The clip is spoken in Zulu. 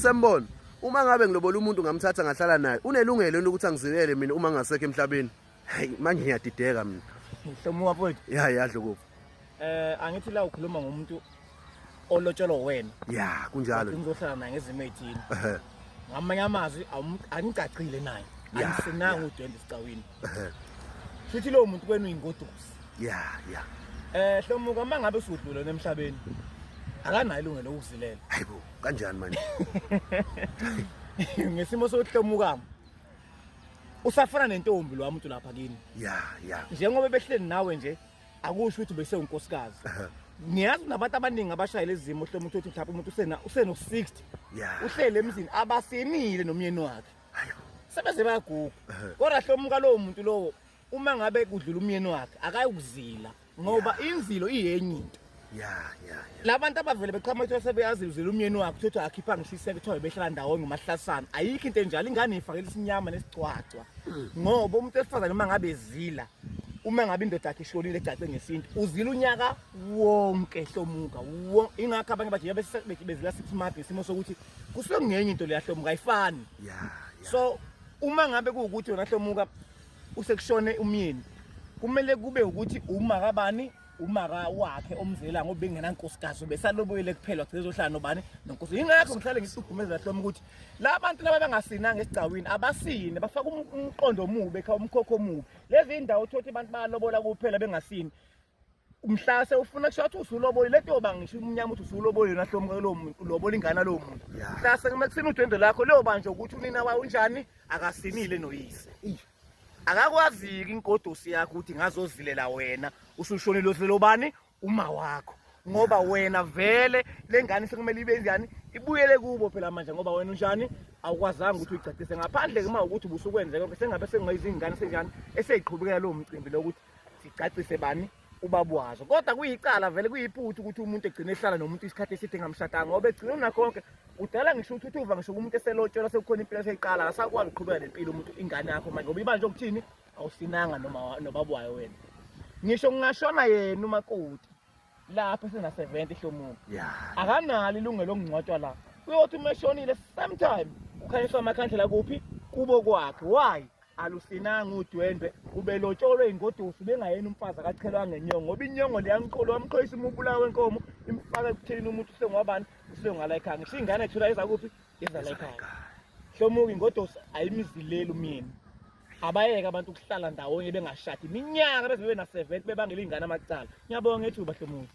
Sembona, uma ngabe ngilobola umuntu ngamthatha ngahlala naye, unelungelo yini ukuthi angizilele mina uma ngasekho emhlabeni? Hayi, manje ngiyadideka mina. Hlomuka mfowethu. Ya, ya Dlokovu. Eh, angithi la ukhuluma ngomuntu olotshelwa wena. Ya, kunjalo. Ngizohlala naye ngezimo ezithile. Ehhe. Ngamanye amazwi awum- angicacile naye. Ya, Angisinanga udwende esicawini. Ehhe. Futhi lowo muntu kwenu uyingodusi. Ya, ya. Eh, Hlomuka uma ngabe usudlule emhlabeni. Akanayo ilungelo lokuzilela. Hayibo. kanjani manje ngesimo sokuhlomukama usafana nentombi lo muntu lapha kini ya ya njengoba behleli nawe nje akusho ukuthi bese unkosikazi ngiyazi nabantu abaningi abashayela izimo hloma ukuthi mhlawumbe umuntu usena useno 60 uhlele emzini abasenile nomyeni wakhe sebeze bayaguga kodwa hloma kalowo muntu lowo uma ngabe kudlula umyeni wakhe akayokuzila ngoba inzilo iyenye into ya ya ya la bantu abavele beqhama ukuthi sebeyazi uzila umyeni wakhe ukuthi akhipha ngisho iseke kuthiwa behlala ndawonye umahlasana ayikho into enjalo ingane ifakela isinyama nesigcwagcwa ngoba umuntu esifazane uma ngabe ezila uma ngabe indoda yakhe ishonile egcace ngesintu uzila unyaka wonke hlomuka wo- ingakho abanye bathi yabe se- be- bezila six months ngesimo sokuthi kusuke kungenye into leyahlomuka ayifani ya ya so uma ngabe kuwukuthi yona hlomuka usekushone umyeni kumele kube ukuthi uma kabani umaka wakhe omzela ngoba bengenankosikazi besalobuyele kuphela wagcina ezohlala nobani nonkosi yingakho ngihlale ngihlukumeza lahloma ukuthi la bantu laba bangasinanga esigcawini abasine bafaka um-, umqondo omubi ekhaya umkhokho omubi lezi ndawo uthothi abantu bayalobola kuphela bengasini mhlase ufuna kusho ukuthi usulobole le nto yoba ngisho umnyama ukuthi usulobole yona hlomuke lowo muntu ulobola ingane lowo muntu mhlase kumele kusine udwendwe lakho leyoba nje ukuthi unina wayo unjani akasinile noyise akakwaziki inkodosi yakho ukuthi ngazozilela wena usushonile osilelo bani uma wakho ngoba wena vele le ngane sekumele ibe njani ibuyele kubo phela manje ngoba wena unjani awukwazanga ukuthi uyigcacise ngaphandle ke uma ukuthi ubusukwenzeka sengabe sekungayizingane senjani eseyiqhubekela lowo mcimbi lokuthi sicacise bani ubaba wazo kodwa kuyicala vele kuyiputhi ukuthi umuntu egcine ehlala nomuntu isikhathi eside ngamshadanga ngoba egcine unakho konke udala ngisho ukuthi uthi uva ngisho kumuntu eselotshelwa sekukhona impilo eseyiqala akasakwazi ukuqhubeka nempilo umuntu ingane yakho manje ngoba ibanje okuthini awusinanga noma nobaba wayo wena ngisho ngingashona yena umakoti lapha esena 70 hlomuka yeah. akanalo ilungelo okungcwatshwa la uyothi uma eshonile same time ukhanyiswa amakhandlela kuphi kubo kwakhe why alusinanga udwendwe ubelotsholwe ingodusi bengayena umfazi akachelwa ngenyongo ngoba inyongo leyangiqolo wamqhoyisa umubula wenkomo imfaka ekutheni umuntu usengwabani usengala ekhaya ngisho ingane ethula izakuphi izala ekhaya hlomuka ingodusi ayimzileli umyeni abayeke abantu ukuhlala ndawonye bengashadi iminyaka beze bebe na-70 bebangela iy'ngane amacala ngiyabonga ngethuba hlomuzi